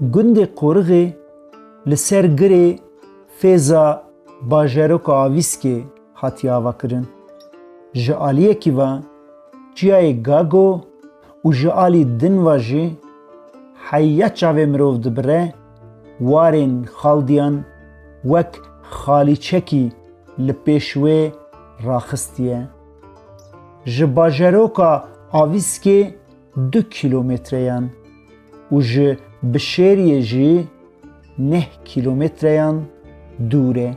Gundê Qorixê li ser girê Fêza bajaroka Avîskê hatiye avakirin. Ji aliyekî ve çiyayê Gago û ji alî din ve jî heya çavê mirov dibire, warên xaldiyan wek xalîçekî li pêş wê raxistiye. Ji bajaroka Avîskê du kîlometreyan û ji Bişêriyê jî neh kîlometreyan dûr e.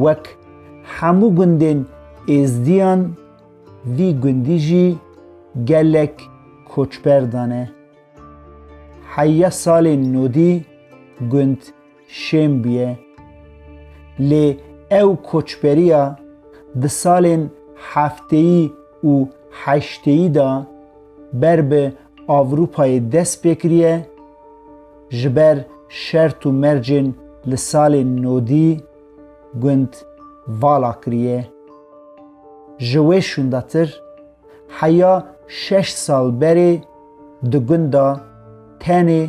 Wek hemû gundên Êzdiyan vî gundî jî gelek koçber dane. Heya salên nodî gund şên bûye. Lê ew koçberiya di salên hefteyî û heşteyî de ber bi Ewropayê dest pê kiriye, ji ber şert û mercên li salê nodî gund vala kiriye. Ji wê şûndetir heya şeş sal berê di gunda tenê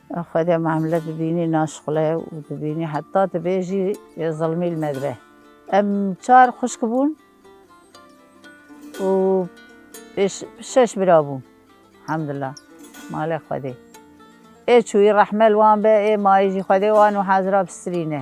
Xwedê mamle dibînî naşqule û dibînî heta dibêjî yê zilmî li me dibe. Em çar xwişk bûn û pêş şeş bira bûn. Hemdullah malê Xwedê ê çûyî rehme li wan be ê mayî jî Xwedê wan û hezra bi sirîne.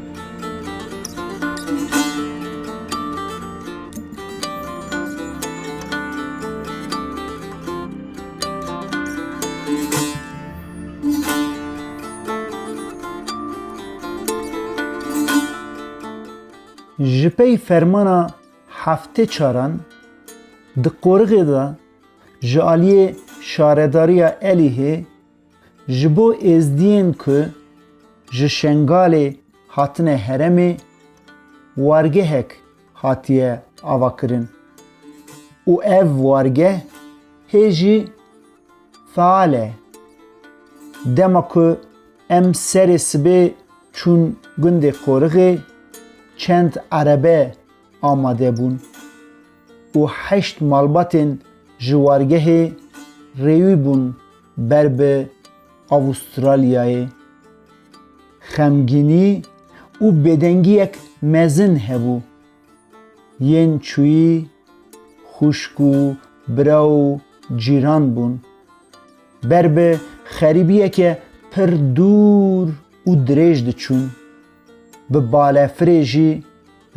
Ji pey fermana heftê çaran di qoriğê de ji aliyê Şaredariya Elihê Ji bo êzdiyên ku ji Şengalê hatine heremê wargehek hatiye avakirin û ev wargeh hê jî feal e. Dema ku em serê sibê çûn gundê Qorixê çend erebe amade bûn û heşt malbatên ji wargehê rêwî bûn ber bi Avustralyayê. Xemgînî û bêdengiyek mezin hebû. Yên çûyî xwişk û bira û cîran bûn. Ber bi xerîbiyeke pir dûr û dirêj diçûn. Bi balefirê jî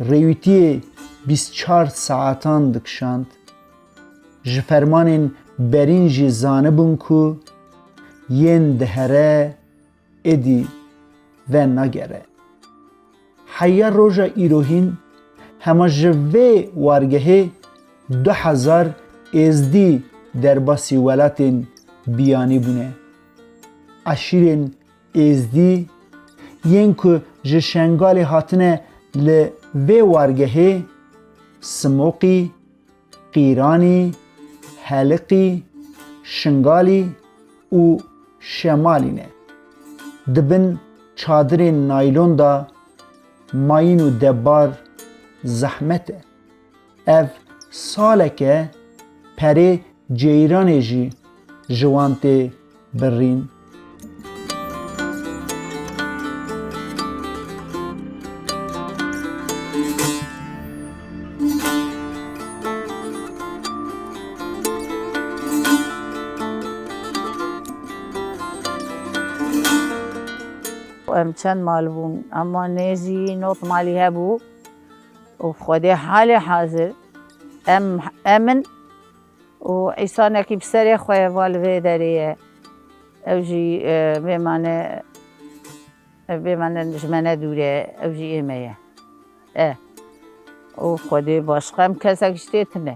Rêwîtiyê bîst çar saetan dikişand. Ji fermanên berîn jî zanibûn ku yên dihere êdî ve nagere. Heya roja îrohîn hema ji vê wargehê du hezar êzdî derbasî welatên biyanî bûne. Eşîrên Êzdî, Yên ku ji Şengalê hatine li vê wargehê, Simoqî, Qîranî, Heliqî, Şingalî û Şemalî ne. Di bin çadirên naylon de mayîn û debbar zehmet e. Ev saleke perê ceyranê jî ji wan tê birrîn. Em çend mal bûn, ema nêzî nod malî hebû. Û Xwedê halê hazir em em in û îsanekî bi serê xwe ye va li vê derê ye. Ew jî bêmane ev bêmane ji me ne dûr e, ew jî ê me ye. E. Û Xwedê baş xem kesekî ji tê tune.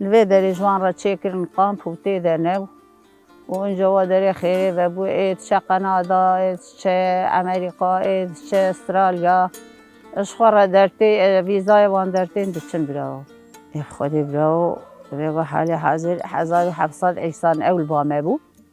Li vê derê ji wan re çêkirin qamp û tê de ne bû û inca wa derê xêrê vebû ê diçe Qenada, ê diçe Emerîka, ê diçe Estralya. Ji xwe re dertê vîzayê wan dertên diçin birawo. Ê bi xwedê birawo vê got halê hazir hezar û heft sed însan ew li ba me bû.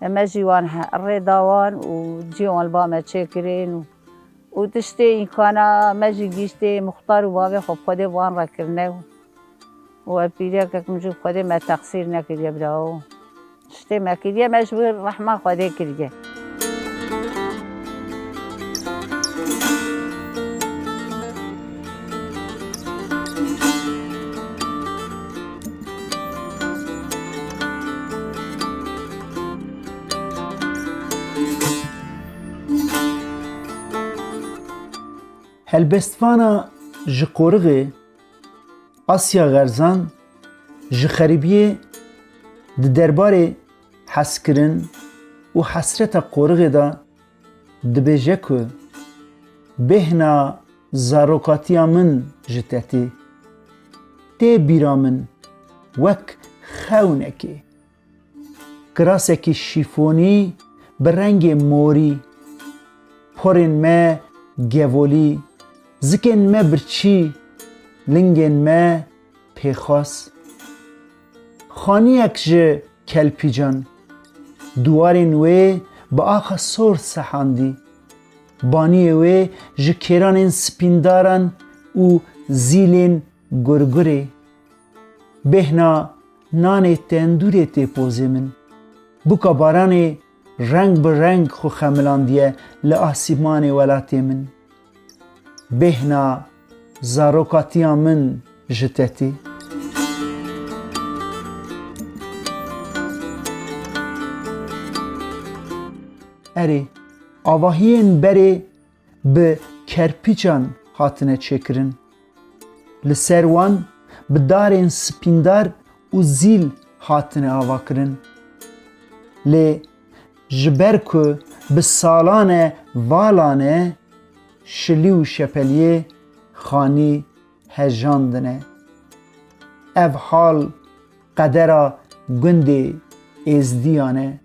Me jî wan rê da wan û cihên wan li ba me çêkirin û tiştê îmkana me jî gihîştê mixtar û bavê xwe bi Xwedê bi wan re kirine û ev pîrekek min jû bi Xwedê me texsîr nekiriye birawo. Tiştê me kiriye me ji wir rehma Xwedê kiriye. Helbestvana ji qoriğê Asya Xerzan ji xerîbiyê di derbarê hezkirin û hesreta qoriğê de Dibêje ku bêhna zarokatiya min ji te tê. Tê bîra min wek xewnekê. Kirasekî şîfonî bi rengê morî, porên me gevolî, zikên me birçî, lingên me pêxwas. Xaniyek ji kelpîcan, diwarên wê bi axa sor sehandî. Baniyê wê ji kêranên spîndaran û zîlên gurgurê. Bêhna nanê tendûrê tê pozê min. Bûka baranê reng bi reng xwe xemilandiye li asîmanê welatê min. Bêhna zarokatiya min ji te tê. Erê, avahiyên berê bi kerpîçan hatine çêkirin. Li ser wan bi darên spîndar û zîl hatine avakirin. Lê Ji ber ku bi salan e valan e, şilî û şepeliyê xanî hejandine. Ev hal qedera gundê Êzdiyan e.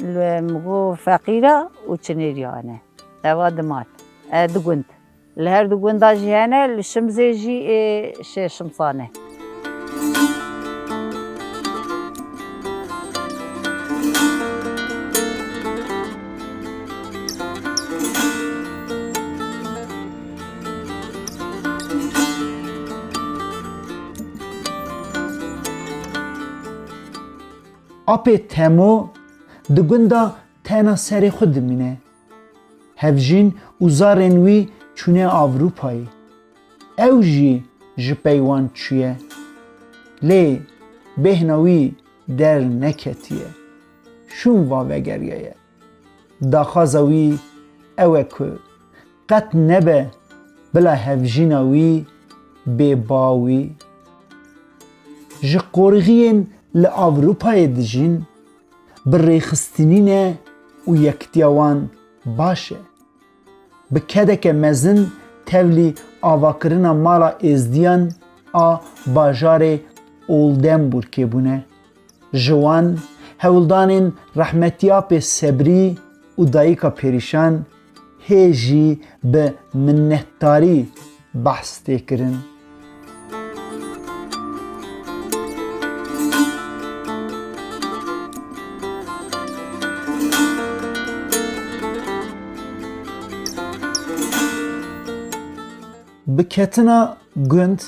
Li Migo feqîra û çinêrîya hene. Eva du mal e du gund. Li her du gundan jî hene, li Şimzê jî ê şêr şimsan e. Apê Temo di gunda tena serê xwe dimîne. Hevjîn û zarên wî çûne Avrupayê. Ew jî ji pey wan çûye. Lê bêhna wî derneketiye. Şûn va vegeriyaye. Daxwaza wî ew e ku qet nebe bila hevjîna wî bê bawî. Ji qorxiyên li Ewropayê dijîn, bi rêxistinîn e û yekitiya wan baş e. Bi kedeke mezin tevlî avakirina mala Êzdiyan a bajarê Oldenburgê bûne. Ji wan, hewldanên Rehmetiya Pê Sebrî û Dayika Pêrîşan hê jî bi minnetdarî behs tê kirin. Bi ketina gund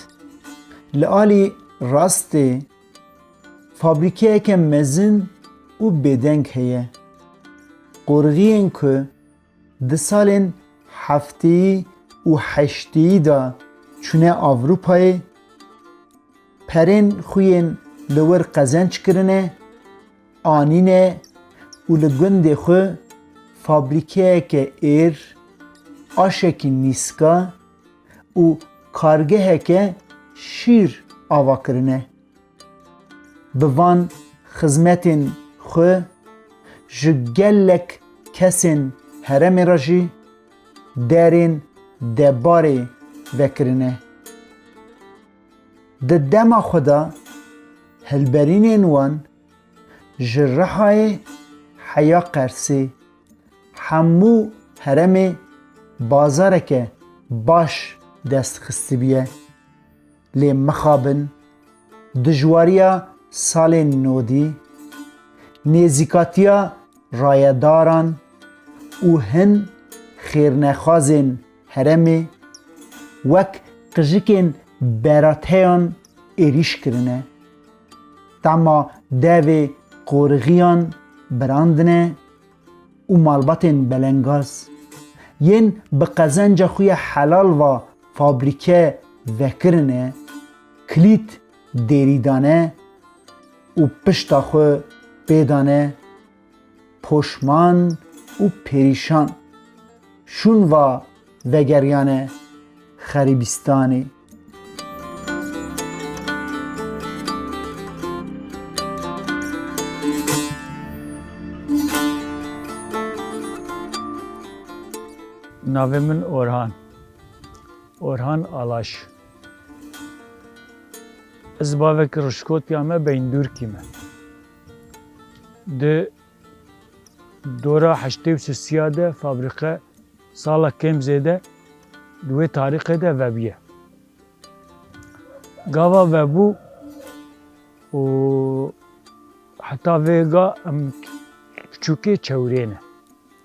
li alî rastê, Fabrîkeyeke mezin û bêdeng heye. Qorixiyên ku di salên hefteyî û heşteyî de çûne Ewropayê, perên xwe yên li wir qezenç kirine, anîne û li gundê xwe fabrîkeyeke êr, aşekî nîska, û kargeheke şîr ava kirine. Bi van xizmetên xwe ji gelek kesên heremê re jî derên debarê vekirine. Di dema xwe de hilberînên wan ji Rihayê heya Qersê Hemû heremê bazareke baş dest xistibiye lê mixabin dijwariya salê nodî, nêzîkatiya rayedaran û hin xêrnexwazên heremê wek qijikên berateyan êrîş kirine. Tahma devê qorixiyan birandine û malbatên belengaz yên bi qezenca xwe ya helal va fabrîke vekirine, kilît dêrî dane û pişta xwe pê dane, Poşman û perîşan şûn va vegeriyane xerîbîstanê. Navê min Orhan. Orhan Alaş. Ez bavek Rişkotya me Beyndurkî me. Di dora heştê û sisiya de fabrîke sala kêm zêde di wê tarîxê de vebûye. Gava vebû û heta vê ga em piçûkê çewirê ne.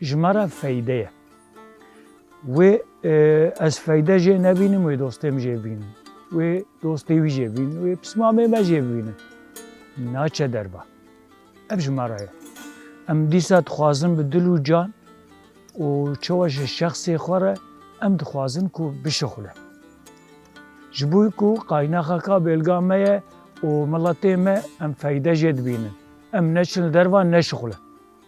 Ji me re feyde ye. Wê ez feyde jê nebînim, wê dostê min jê bînin. Wê dostê wî jê bînin, wê pismamê me jê bînin. Naçe derba. Ev ji me re ye. Em dîsa dixwazin bi dil û can û çewe ji şexsê xwe re em dixwazin ku bişixule. Ji bo ku qaynaxa ka bêlga me ye û miletê me em feyde jê dibînin. Em neçin li dervan neşixulin.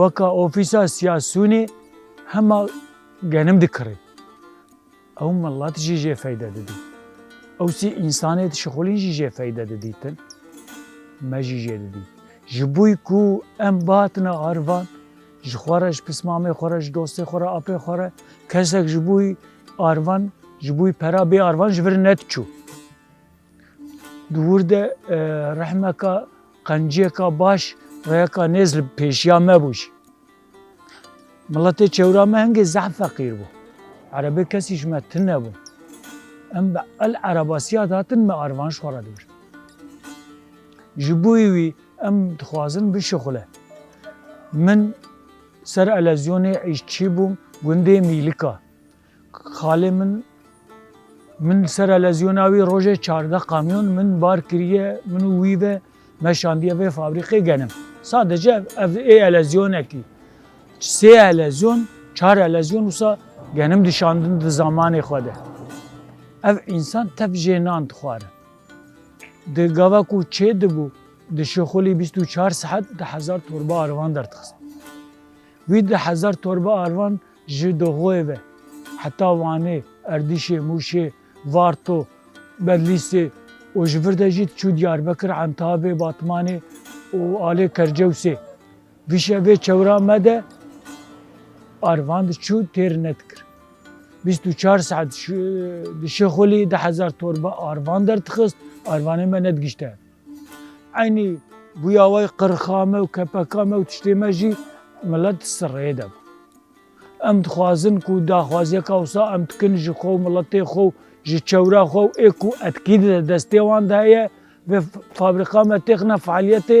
weka ofîsa siyasûnê hema genim dikirê. Ew milet jî jê feyde didî. Ew sî însanê dişixulîn jî jê feyde didîtin. Me jî jê didî. Ji bo ku em bihatina arivan ji xwe re ji pismamê xwe re ji dostê xwe re apê xwe re kesek ji bo arivan ji bo pera bê arivan ji vir nediçû. Di wir de rehmeka Qenciyeka baş reyeka nêz li pêşiya me bû jî. Miletê çewra me hingê zehf feqîr bû. Erebê kesî ji me tune bûn. Em bi el erebasiya dihatin me arvan ji xwe re dibirin. Ji bo wî em dixwazin bişuxule. Min ser elezyonê îşçî bûm gundê Mîlika. Xalê min min sera lezyona wî rojê çardeh kamyon min bar kiriye min û wî ve me şandiye vê fabrîqê genim. Sadece ev ê elezyonekî sê elezyon çar elezyon wisa genim dişandin di zamanê xwe de. Ev însan tev jê nan dixwarin. Di gava ku çê dibû di şixulî bîst û çar sihet di hezar torba arvan derdixistin. Wî di hezar torba arvan Ji Doxoyê ve heta Wanê, Erdîşê, Mûşê, Varto, Bedlîsê û ji vir de jî diçû Diyarbekir, Entabê, Batmanê û alê Kercewsê. Vîşe vê çewra me de arvan diçû têr nedikir. Bîst û çar saet di Şixulî di hezar torba arvan derdixist, arvanê me nedigişte hev. Eynî bûya we yî qirixa me û kepeka me û tiştê me jî milet di ser rêyê de bû. Em dixwazin ku daxwaziyeka wisa em dikin ji xwe û miletê xwe û ji çewra xwe û ê ku etkî di destê wan de heye vê fabrîka me têxine fealiyetê,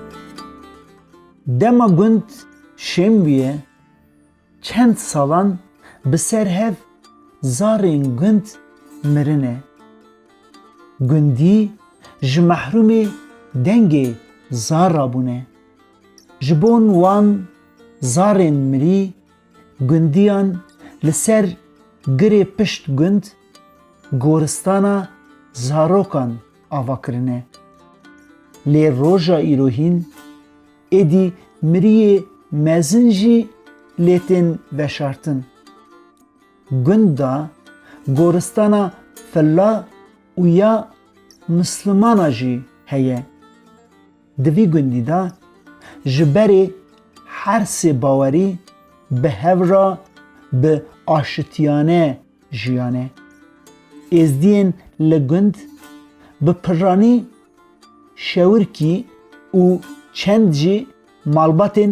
Dema gund şêm bûye, çend salan bi ser hev zarên gund mirine. Gundî ji mehrûmê dengê zar re bûne. Ji bon wan zarên mirî gundiyan li ser girê pişt gund goristana zarokan ava kirine. Lê roja îro hîn êdî miriyê mezin jî lê tên veşartin. Gund de goristana fella û ya Mislumana jî heye. Di vî gundî de ji berê her sê bawerî bi hev re bi aşitiyane jiyane. Êzdiyên li gund bi pirranî, şewirkî û çend jî malbatên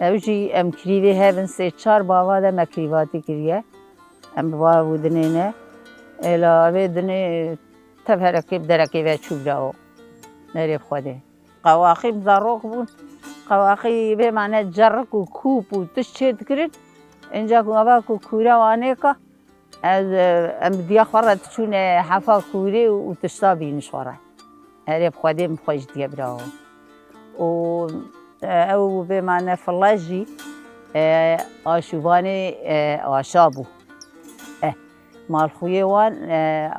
Ew jî em krîvê hev in sê çar bava de me krîvatî kiriye. Em bi bav û dinê ne. Êla vê dinê tev herekê bi derekê ve çû birawo. Nerê bi Xwedê. Qewaqî bi zarok bûn. Qewaqî bê mane cerrik û kûp û tişt çê dikirin. Înca ku ava ku kûre wan êka. Ez em bi diya xwe re diçûne hefa kûrê û tişta bînin ji xwe re. Erê bi Xwedê min xweş diye bravo. Û ew bê ma ne file jî a şûvanê aşa bû. Eh malxuyê wan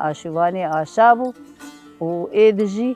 a şûvanê aşa bû û êdi jî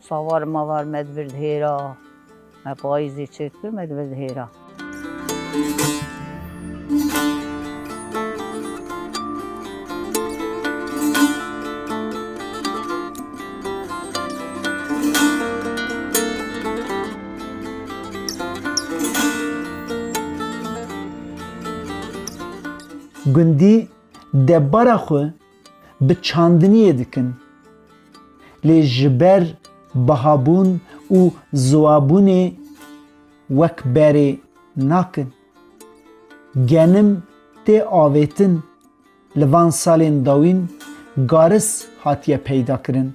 Savar mavar me di vir dihêra. Me payîzê çêk kir me di vir dihêra. Gundî debara xwe. bi çandiniyê dikin. Lê ji ber bihabûn û ziwabûnê wek berê nakin. Genim tê avêtin, li van salên dawîn garis hatiye peydakirin.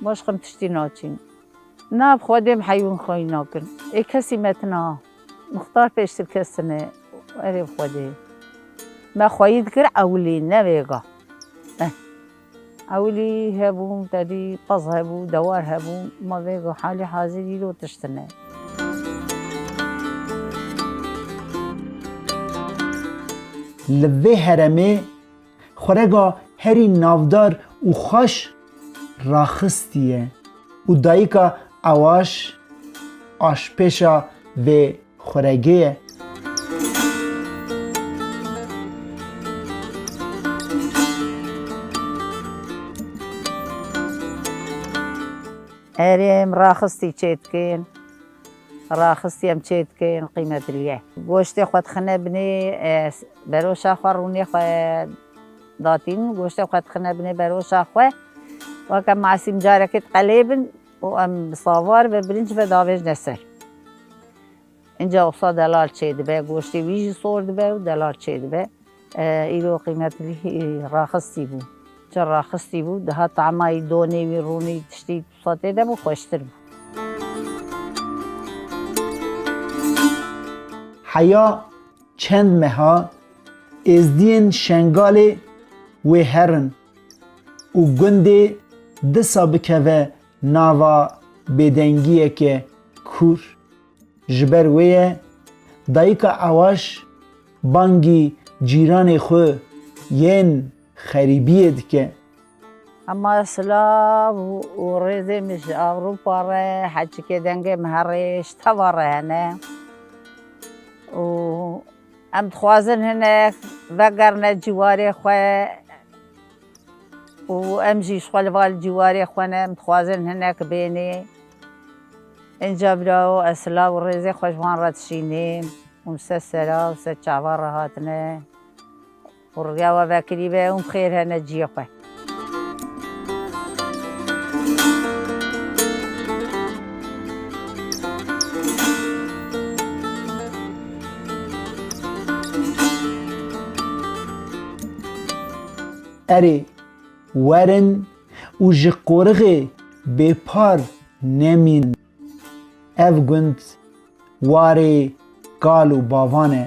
Baş xem tiştî naçîn. Na bi xwedê bi heyûn xweyîn nakin. Ê kesî metina. Mixtar pêştir kestine. Erê bi xwedê. Me xweyî dikir ewilî ne vêga. Eh. Ewilî hebûn tedî qez hebû, dewar hebû. Ma vêga halî hazîr îro tiştine. Li vê heremê. Xwerega herî navdar û xweş raxistiye û dayika Ewaş aşpêşa vê xweregê ye. Herî em raxistî çêdikin. Raxistî em çê dikeyên qîmet rîye. Goştê xwe dixine binê beroşa xwe rûnê xwe datîn goştê xwe dixine binê beroşa xwe weke masîm carekê diqelê bin û em bi savar ve birinc ve davêjne ser. Înca usa delal çê dibe goştê wî jî sor dibe û delal çê dibe. Îro qîmet rî raxistî bû. Çi raxistî bû dihat tamayî donê wî rûnî tiştî Xwedê de bû xweştir bû. Heya çend meha êzdiyên Şengalê wê herin û gundê disa bikeve nava bêdengiyeke kûr. Ji ber wê ye dayika Ewaş bangî cîranê xwe yên xerîbiyê dike. Hema silav û rêzê min ji Ewropa re, heçikê dengê min herêj teva re hene û em dixwazin hinek vegerine ciwarê xwe û em jî ji xwe li va li ciwarê xwe ne, em dixwazin hinek bênê. Înca birawo ez silav û rêzê xwe ji wan re dişînim û li ser sera û li ser çava re hatine. Xwe rûya we vekirî be û bixêr hene ciyê xwe. Erê, werin û ji qorixê bêpar nemînin. Ev gund warê kal û bavan e.